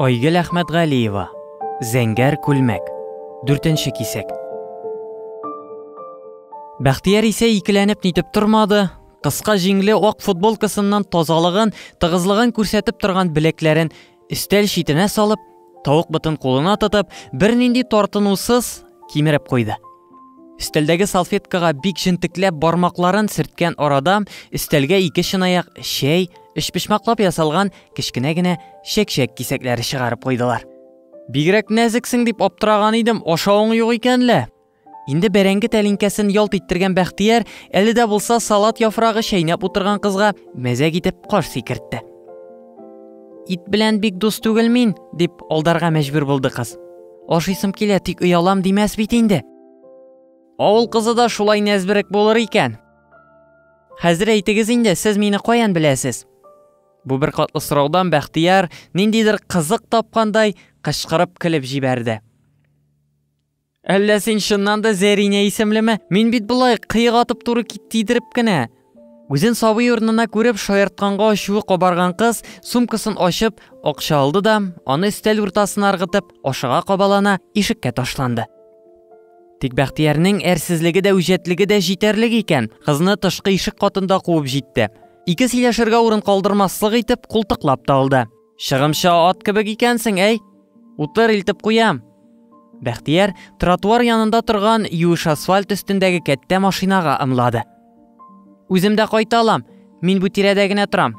Айгөл Әхмәтгалиева. Зәңгәр күлмәк. Дүртенче кисәк. Бәхтияр исә икеләнеп нитеп тормады. Кыска җиңле ак футболкасыннан тазалыгын, тыгызлыгын күрсәтеп торган беләкләрен өстәл читенә салып, Тавык бытын кулына тотып, бернинди тартынусыз кимереп куйды. Өстәлдәге салфеткага бик җентекләп бармакларын сөрткән арада, өстәлгә ике чынаяк чәй, өчпочмаклап ясалган кечкенә генә чәкчәк кисәкләре чыгарып куйдылар. Бигрәк нәзексең дип аптыраган идем, ашавың юк икән лә. Инде бәрәңге тәлинкәсен ялт иттергән Бәхтияр әле дә булса салат яфрагы чәйнәп утырган кызга мәзәк итеп каш сикертте. Ит белән бик дус түгел мин, дип алдарга мәҗбүр булды кыз. Ашыйсым килә, тик оялам димәс бит инде. Авыл кызы да шулай нәзберек булыр икән. Хәзер әйтегез инде, сез мине каян беләсез? Бу бер катлы сораудан Бәхтияр ниндидер кызык тапкандай кычкырып көлеп җибәрде. Әллә син чыннан да Зәринә исемлеме? Мин бит болай кыек атып туры кит тидереп кенә. Үзен сабый урынына күреп шаяртканга ачуы кабарган кыз сумкасын ачып, акча алды да, аны өстәл уртасына ыргытып, ашыга кабалана ишеккә ташланды. Тик Бәхтиярнең әрсезлеге дә үҗәтлеге дә җитәрлек икән, кызны тышкы ишек катында куып җитте. Ике сөйләшергә урын калдырмаслык итеп култыклап та алды. Чыгымчы ат кебек икәнсең, әй! Утыр, илтеп куям! Бәхтияр тротуар янында торган юеш асфальт өстендәге кәттә машинага ымлады. Үзем дә кайта алам, мин бу тирәдә генә торам.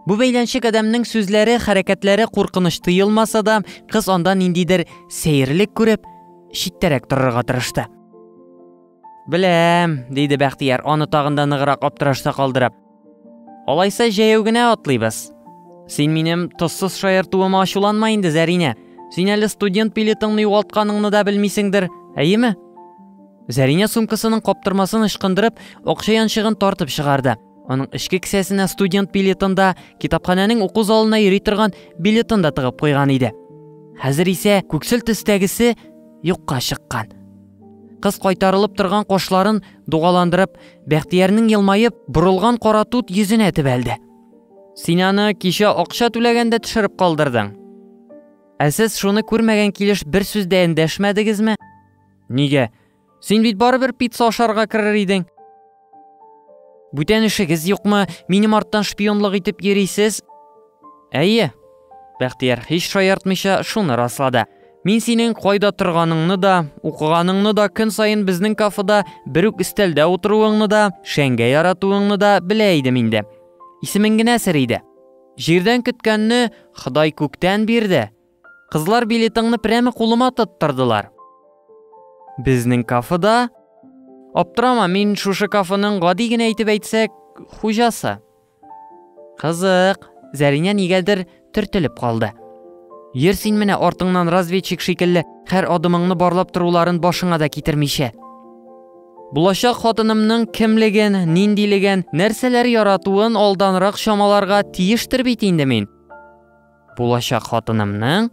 Бу бәйләнчек адәмнең сүзләре, хәрәкәтләре куркыныч тоелмаса да, кыз анда ниндидер сәерлек күреп, читтәрәк торырга тырышты. Беләм, диде Бәхтияр, аны тагында ныграк аптырашта калдырып. Алайса җәяү генә атлыйбыз. Син минем тозсыз шаяртуыма ачуланма инде, Зәринә. Син әле студент билетыңны югалтканыңны да белмисеңдер, әйеме? Зәринә сумкасының каптырмасын ычкындырып, акча янчыгын тартып чыгарды. Аның эчке кесәсенә студент билетын да, китапханәнең уку залына йөри торган билетын да тыгып куйган иде. Хәзер исә күксел төстәгесе юкка чыккан. Кыз кайтарылып торган кашларын дугаландырып, Бәхтиярнең елмаеп, борылган кара тут йөзенә тибәлде. Син аны кичә акча түләгәндә төшереп калдырдың. Ә сез шуны күрмәгән килеш бер сүз дә эндәшмәдегезме? Нигә? Син бит барыбер пицца ашарга керер идең. Бүтән эшегез юкмы? Минем арттан шпионлык итеп йөрисез? Әйе. Бәхтияр һич шаяртмыйча шуны раслады. Мин синең кайда торганыңны да, укыганыңны да, көн саен безнең кафеда бер үк өстәлдә утыруыңны да, шәңгә яратуыңны да белә идем инде. Исемең генә сер иде. Җирдән көткәнне Ходай күктән бирде. Кызлар билетыңны прямо кулыма тоттырдылар. Безнең кафеда? Аптырама, мин шушы кафеның гади генә итеп әйтсәк, хуҗасы. Кызык, Зәринә нигәдер төртелеп калды. Йөр син менә артыңнан разведчик шикелле, һәр адымыңны барлап торуларын башыңа да китермичә. Булачак хатынымның кемлеген, ниндилеген, нәрсәләр яратуын алданрак чамаларга тиештер бит инде мин. Булачак хатынымның?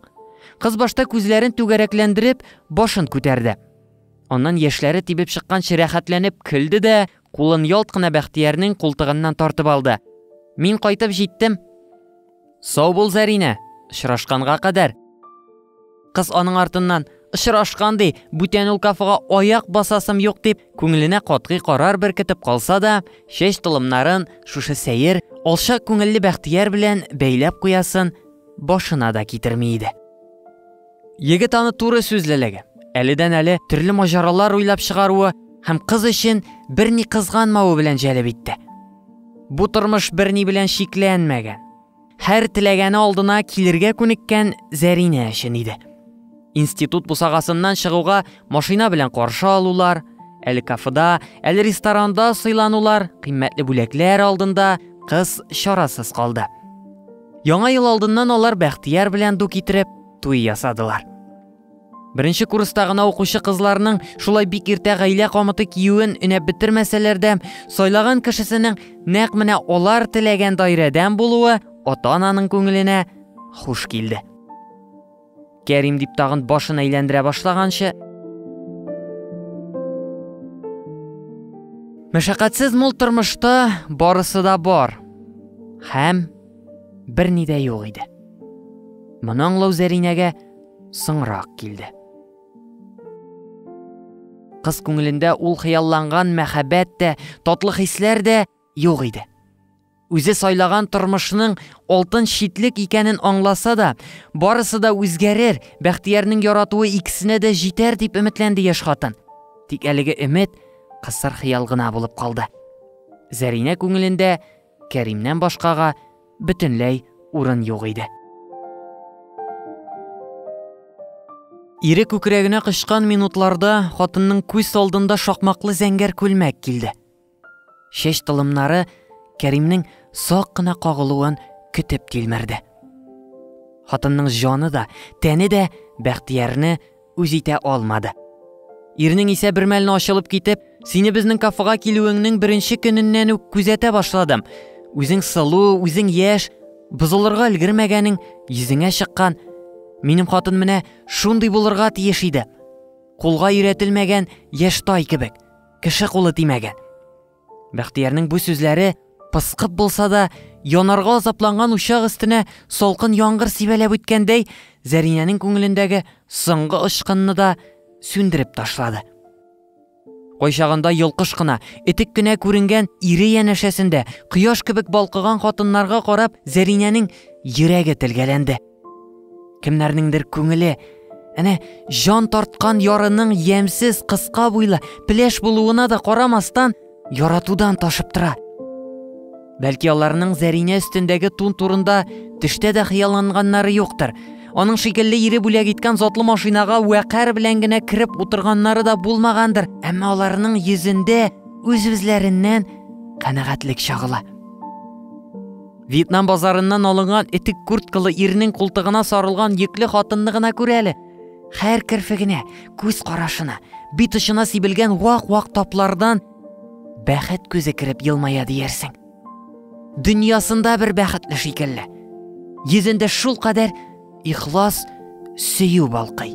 Кыз башта күзләрен түгәрәкләндереп, башын күтәрде. Аннан яшьләре тибеп чыкканчы рәхәтләнеп көлде дә, кулын ялт кына Бәхтиярнең култыгыннан тартып алды. Мин кайтып җиттем. Сау бул, Зәринә, очрашканга кадәр. Кыз аның артыннан, очрашкан ди, бүтән ул кафега аяк басасым юк дип, күңеленә катгый карар беркетеп калса да, чәч толымнарын шушы сәер, алча күңелле Бәхтияр белән бәйләп куясын башына да китерми иде. Егет аны туры сүзлелеге, әледән әле төрле маҗаралар уйлап чыгаруы һәм кыз өчен берни кызганмавы белән җәлеп итте. Бу тормыш берни белән чикләнмәгән. Һәр теләгәне алдына килергә күнеккән Зәринә өчен иде. Институт бусагасыннан чыгуга машина белән каршы алулар, әле кафеда, әле ресторанда сыйланулар, кыйммәтле бүләкләр алдында кыз чарасыз калды. Яңа ел алдыннан алар Бәхтияр белән ду китереп, туй ясадылар. Беренче курста гына укучы кызларның шулай бик иртә гаилә камыты киюен өнәп бетермәсәләр дә, сайлаган кешесенең нәкъ менә алар теләгән даирәдән булуы ата-ананың күңеленә хуш килде. Кәрим дип тагын башын әйләндерә башлаганчы, Мәшәкатьсез мул тормышта барысы да бар. Һәм берни дә юк иде. Моның Лаузәринәгә соңрак килде. Кыз күңелендә ул хыялланган мәхәббәт тә, татлы хисләр дә юк иде. Үзе сайлаган тормышның алтын шитлек икәнен аңласа да, барысы да үзгәрер, Бәхтиярның яратуы икесенә дә җитәр дип өметләнде яшь хатын. Тик әлеге өмет кысыр хыял гына булып калды. Зәринә күңелендә Кәримнән башкага бөтенләй урын юк иде. Ире күкрәгенә кычкан минутларда хатынның күз алдында шакмаклы зәңгәр күлмәк килде. Чәч тылымнары Кәримнең сак кына кагылуын көтеп тилмерде. Хатынның җаны да, тәне дә Бәхтиярне үз итә алмады. Ирнең исә бер мәлне ачылып китеп, сине безнең кафега килүеңнең беренче көненнән үк күзәтә башладым. Үзең сылу, үзең яшь, бозылырга өлгермәгәнең йөзеңә чыккан. Минем хатын менә шундый булырга тиеш иде. Кулга өйрәтелмәгән яшь тай кебек, кеше кулы тимәгән. Бәхтиярнең бу сүзләре пыскып булса да, янарга азапланган учак өстенә салкын яңгыр сибәләп үткәндәй, Зәринәнең күңелендәге соңгы очкынны да сүндереп ташлады. Кайчагында йолкыш кына, этек кенә күренгән ире янәшәсендә кояш кебек балкыган хатыннарга карап, Зәринәнең йөрәге телгәләнде. Кемнәрнеңдер күңеле әнә җан тарткан ярының ямьсез кыска буйлы пеләш булуына да карамастан яратудан ташып тора. Бәлки аларның Зәринә өстендәге тун турында төштә дә хыялланганнары юктыр. Аның шикелле ире бүләк иткән затлы машинага вәкар белән генә кереп утырганнары да булмагандыр. Әмма аларның йөзендә үз-үзләреннән канәгатьлек чагыла. Вьетнам базарыннан алынган этик курткалы ирнең култыгына сарылган йөкле хатынны гына күр әле. Хәр керфегенә, күз карашына, бит очына сибелгән вак-вак таплардан бәхет күзе кереп елмая диярсең. Дөньясында бер бәхетле шикелле. Йөзендә шул кадәр ихлас сөю балкый.